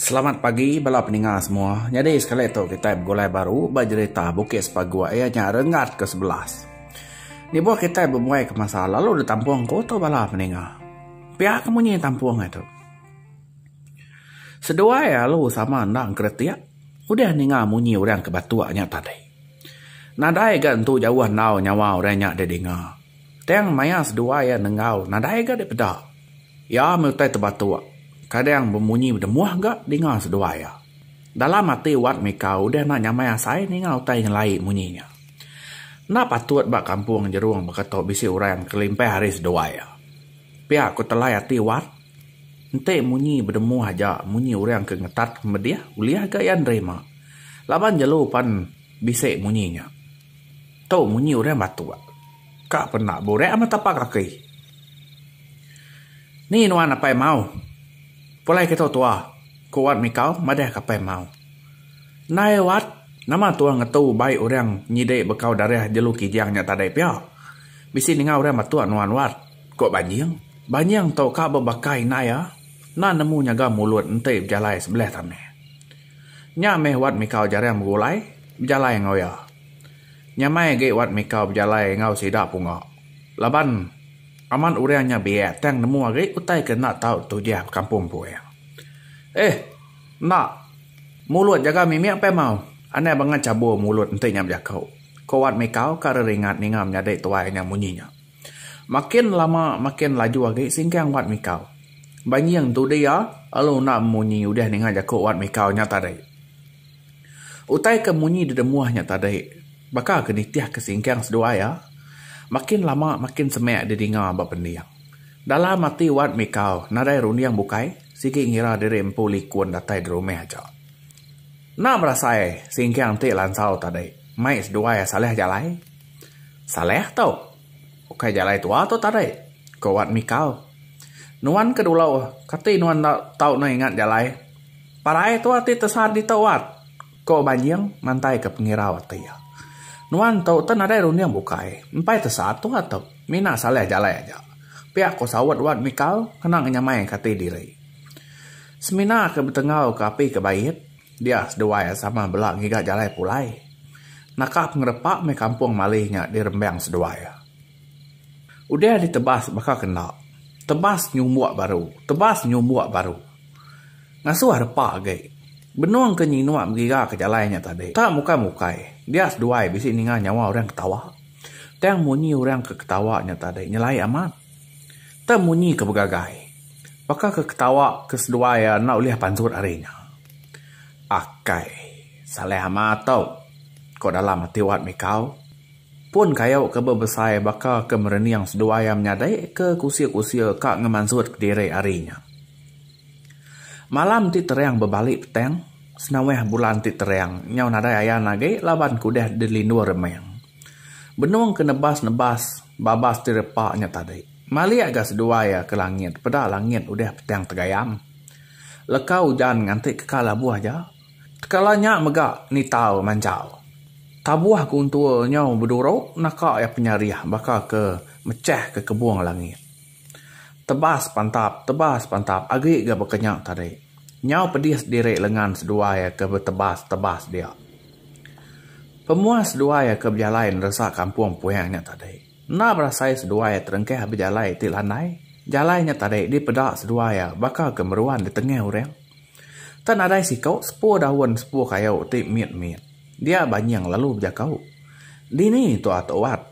Selamat pagi bala peninga semua. Nyadi sekali tu kitai begulai baru ba jerita Bukit Sepaguk iya nya Renggat ke sebelas. Lebuh kitai bebuai ke masa lalu ditampung ku tu bala peninga. Pia ke munyi tampung ai tu. Seduai alu sama enda engkeretik udah ninga munyi orang ke batuk nya tadi. Nadai ga entu jauh enggau nyawa orang nya dek dinga. Tang maya seduai iya nenggau nadai ga dek peda. Iya meh utai tebatuk kadang bemunyi bedemuh ga dinga seduai iya. Dalam ati Wat Mika udah enda nyamai asai ninga utai nyelai munyi nya. Enda patut ba kampung jerung baka tu bisi orang kelimpah ari seduai iya. Pia ku telai ati Wat. Enti munyi bedemu aja munyi orang ke ngetat medih ulih ga iya nerima laban jelu pan bisi munyi nya. Tu munyi orang batok ka pen enda burak amat tapa kaki. Ni nuan apai mau pulai kitu tua ku Wat Mikau madah ke apai mau. Ndai Wat nama tua ngetu bai orang nyidi bekau darah jelu kijang nya tadi pia. Bisi ninga orang batok nuan Wat. Ko Banjing. Banjing tu ka bebaka indai iya enda nemu nyaga mulut enti bejalai sebelih tanah. Nya meh Wat Mikau jarang begulai bejalai enggau iya. Nyamai agi Wat Mikau bejalai enggau sida punga laban amat orang nya biak tang nemu agi utai ke enda tau tujah bekampung ku iya. Eh! Enda mulut jaga mimik peh mau. Anang banga chabur mulut enti nya bejaku, ko Wat Mikau ka reringat ninga menyadi tuai nya munyi nya. Makin lama makin laju agi singkang Wat Mikau. Banjing tu dia lalu enda bemunyi udah ninga jaku Wat Mikau nya tadi. Utai ke munyi dedemuh nya tadi baka ke nitihka singkang seduai iya makin lama makin semak didinga ba pending. Dalam ati Wat Mikau nadai runding bukai sigi ngira diri empu likun datai derumah aja. Enda berasai singkang ti lansau tadi mai seduai iya salah jalai. Saleh tu. Ukai jalai tua tu tadi, ku Wat Mikal. Nuan ke dulu, kati nuan enda tau neh ingat jalai? Parai tu ati tesat ditu, Wat, ku Banjing mantaika pengirau ati iya. Nuan tu teh nadai runding bukai, empai tesat tua tu. Mina Saleh jalai aja, pia ku saut Wat Mikal kena ngenyamaika ati diri. Semina ke betengau ke api ke bait. Dia seduai a sama bela ngiga jalai pulai. Naka pengerepa meh kampung Mali nya dirembang seduai a. Udah ditebas baka ke enda. Tebas nyumbuk baru. Tebas nyumbuk baru. Ngasuh arepa agi. Benung ke nyinuk ngiga ke jalai nya tadi. Tang bukai bukai. Dia seduai bisi ninga nyawa orang ketawa. Tang munyi orang ke ketawa nya tadi nyelai amat. Tang munyi ke begagai. Baka ke ketawa ke seduai iya enda ulih pansut ari nya. Akai. Salai amat tu. Ko dalam ati Wat Mikau. Pun kayu ke bebesai baka ke merening seduai iya menyadi ke kusir-kusir ka ngemansut kediri ari nya. Malam ti terang bebali petang. Senawah bulan ti terang nyau nadai ayan agi laban ke udah dilindur remang. Benung ke nebas-nebas. Babas ti repa nya tadi. Malik ga seduai iya ke langit peda langit udah petang tegayam. Leka ujan nganti keka labuh aja. Tekala nya mega nitau manjau. Tabuh guntur nyau beduru naka iya penyarih baka ke mechah ke kebung langit. Tebas pantap tebas pantap agi ga baka nya tadi. Nyau pedis diri lengan seduai iya ke betebas tebas dia. Pemuah seduai ke bejalai neresa kampung Puing nya tadi enda berasai seduai terengkah agi bejalai ti landai. Jalai nya tadi dipeda seduai iya baka ke meruan di tengah orang. Enta nadai siku sepu daun sepu kayu ti mit-mit. Dia banying lalu bejaku, Dini tu atu Wat?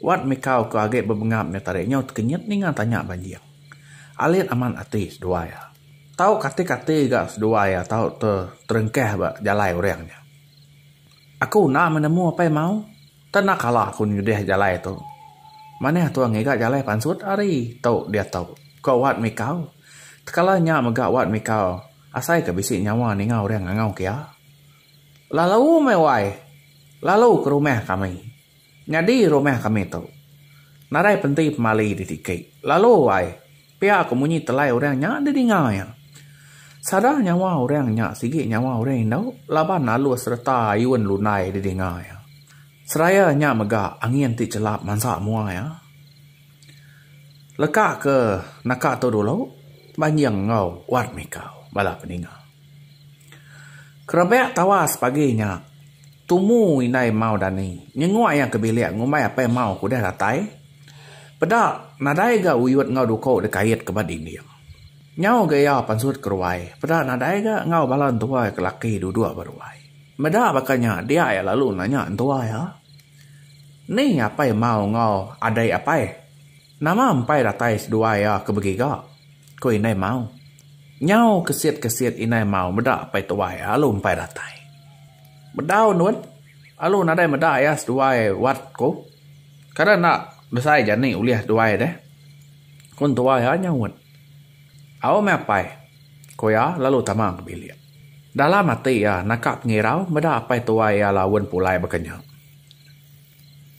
Wat mikau ke agi bebengap nya tadi nyau tekenyit ninga tanya banying. Alit amat ati seduai iya. Tau kati-kati ga seduai a tau terengkah ba jalai orang nya. Aku enda meh nemu apai mau, tak enda kala aku nyudah jalai tu. Manah tua ngiga jalai pansut ari tu diatu, ko Wat Mikau. Tekala nya mega Wat Mikau asai ke bisi nyawa ninga orang ngangau ke iya. Lalu meh wai, lalu ke rumah kami. Nyadi rumah kami tu. Nadai penti pemali di tiki. Lalu ai, pia ko munyi telai orang nya di ninga iya. Sada nyawa orang nya sigi nyawa orang indu laban alus sereta ayun lundai di ninga iya. Seraya nya mega angin ti chelap mansa mua iya. Leka ke naka tu dulu, banjing enggau wat mikau bala peninga. Kerebak tawas pagi nya. Tumu indai Mau Dani nyenguk iya ke bilik ngumbai apai Mau ke udah datai. Peda nadai ga Uyut enggau Duko dikait ke ba dinding. Nyau ga iya pansut ke ruai, peda nadai ga enggau bala entua iya ke laki duduk ba ruai. Meda baka nya dia iya lalu nanya entua iya, Ni apai Mau enggau adai apai? Nama empai datai seduai iya ke begiga? ku Indai Mau. Nyau kesit-kesit Indai Mau meda pai tuai iya alu empai datai. Bedau ndun, alu nadai meda iya seduai wat ku. Kada enda besai jani ulih duai deh, ku entua iya nyaut. Au meh apai, ku iya lalu tama ke bilik. Dalam ati iya naka pengirau meda pai tuai iya laun pulai baka nya.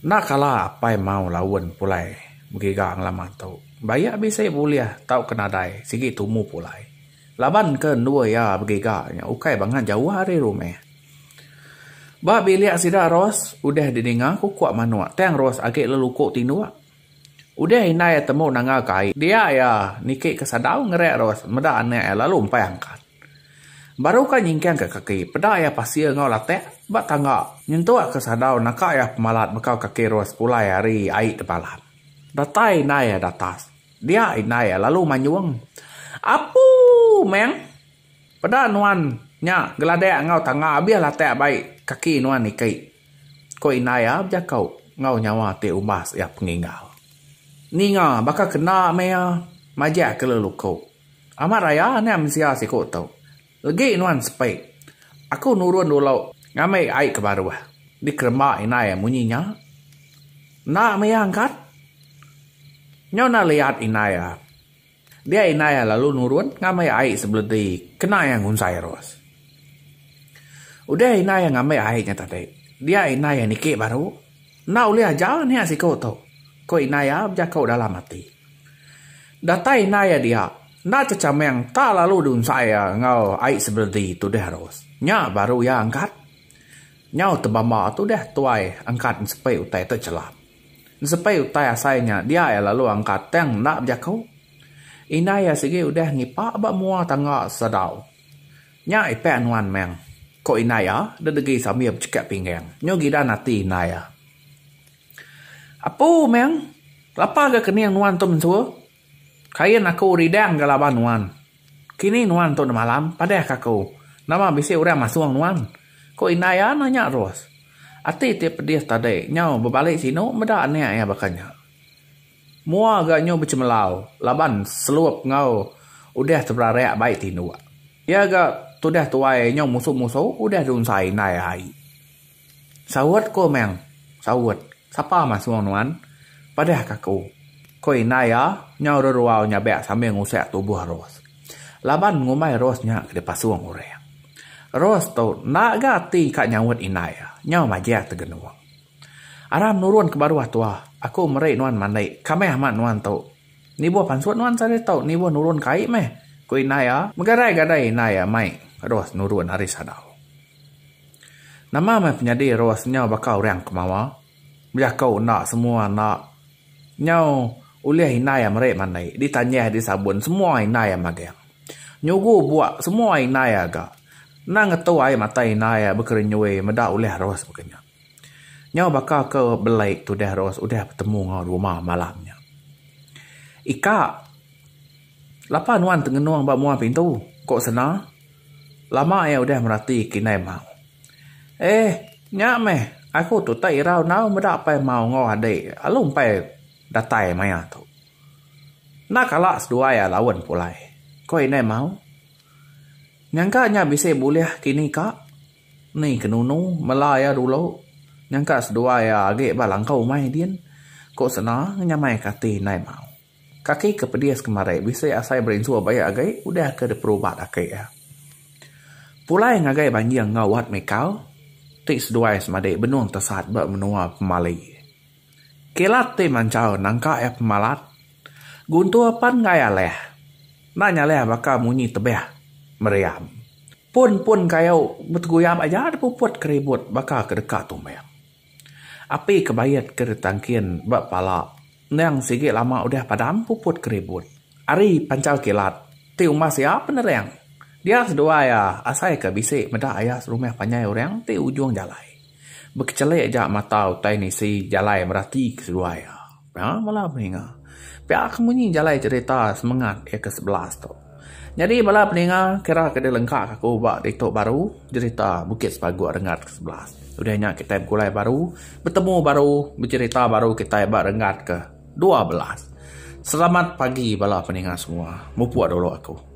Enda kala apai mau laun pulai begiga ngelama tu. Ba iya bisi bulih tauka nadai sigi tumu pulai. Labanka endur iya begiga nya ukai bangan jauh ari rumah. Ba bilik sida Ros udah didinga kukuk manuk tang Ros agi leluku tinduk. Udah indai iya temu nangga kai dia iya niki ke sadau ngereak Ros meda anak iya lalu empai angkat. Baru ka nyingkangka kaki peda iya pasir enggau latak ba tangga nyentuk ke sadau naka iya pemalat bekau kaki rua sepulai ari ai tebalan. Datai indai iya datas. Dia indai iya lalu manyung, Apu! Meng. Peda nuan nya geladak enggau tangga abih latak ba ai kaki nuan iki. Ku indai iya bejako enggau nyawa ti umbas iya pengingau. Ninga baka kena meh iya majak ke lalu ko. Amat raya nya mensia siku tu. Legi nuan sepi. Aku nurun dulu ngambi ai ke baruh. Dikeremba indai munyi nya. Enda mih angkat. Nyau enda liat indai iya. Dia indai iya lalu nurun ngambi ai sebeledi kena iya ngunsai ros. Udah indai iya ngambi ai nya tadi, dia indai iya niki baru. Enda ulih aja nya siku tu, ku indai iya bejaku dalam ati. Datai indai iya dia. Enda chechameng ta lalu diunsai iya enggau ai sebeledi tu deh Ros. Nya baru iya angkat. Nyau tebamba tu deh tuai angkat ensepei utai tu chelap. Ensepei utai asai nya dia iya lalu angkat tang enda bejaku. Indai iya sigi udah ngipa ba mua tangga Sadau. Nya ipek nuan meng, ko indai iya dedegi sambil bechekek pinggang. Nyu gidan ati indai iya. Apu meng, Kelapa ga kening nuan tu mentua? Kain aku ridang ga laban nuan. Kini nuan tu enda malam, padah ka aku. Nama bisi orang masung nuan? Ku indai iya nanya terus. Ati ti pedih tadi nyau bebali sinu meda anak iya baka nya. Mua ga nyu bechemelau laban selup enggau udah teberarak bai tinduk. Iya ga tudah tuai nyau musu-musu udah diunsai indai ai. Saut ku Amang, Saut, sapa masung nuan? Padahka aku. Ku indai iya nyau reruau nyabak sambil ngusik tubuh Ros. Laban ngumbai Ros nya ke dipasung orang. Ros tu enda ga ati ka nyaut indai iya, nyau majak tegenung. Aram nurun ke baruh tua, aku meri nuan mandi, kamih amat nuan tu. Nibuh pansut nuan sehari tu, nibuh nurun kai meh, ku indai iya. Megadai-gadai indai iya mai Ros nurun ari sadau. Nama meh penyadi Ros nyau baka orang ke mawa? Bejaku enda semua enda. Nyau ulih indai iya meri mandi, ditanyah, disabun semua indai iya magang. Nyugu buk semua indai iya ga. Endang ngetu ai mata indai iya bekerenyui meda ulih Ros baka nya. Nyau baka ke belai tudah Ros udah betemu enggau rumah malam nya. Ika. Lapa nuan tengenung ba mua pintu? ku Sena lama iya udah merati kinden Mau. Eh, nya meh, aku tu utai irau enggau meda pai Mau enggau ade lalu empai datai maya tu. Enda kala seduai alaun pulai, ku indai Mau. Nyangka nya bisi bulih kini ka, ni ke nunu mela iya dulu nyangka seduai iya agi ba langkau umai din, ku Sena ngenyamaika ati indai Mau. Kaki ke pedis kemari bisi asai berinsu baik agi udah ke diperubat aki iya. Pulai ngagai banjing enggau Wat Mikal ti seduai semadi benung tesat ba menua pemali. Kilat ti manchau nangka iya pemalat Guntur pan enggai alih enda nyalih baka munyi tebih meriam. Pun-pun kayu beteguyap aja dipuput ke ribut baka ke deka tumbing. Api kebayet ke ditangkin ba pala endang sigi lama udah padam puput ke ribut. Ari panchal kilat ti umbas iya penering dia seduai iya asai ke bisi meda iya serumah panjai orang ti ujung jalai. Bekechelik ja mata utai nisi jalai merati ke seduai iya. Pia bala peninga. Pia ke munyi jalai cerita semengat ke kesebelas tu. Nyadi bala peninga kira ke dilengkaka aku ba ditu baru jerita Bukit Sepaguk Renggat ke sebelas. Udah nya kitai begulai baru, betemu baru, bejerita baru kitai ba renggat ke dua belas. Selamat pagi bala peninga semua. Mupuk dulu aku.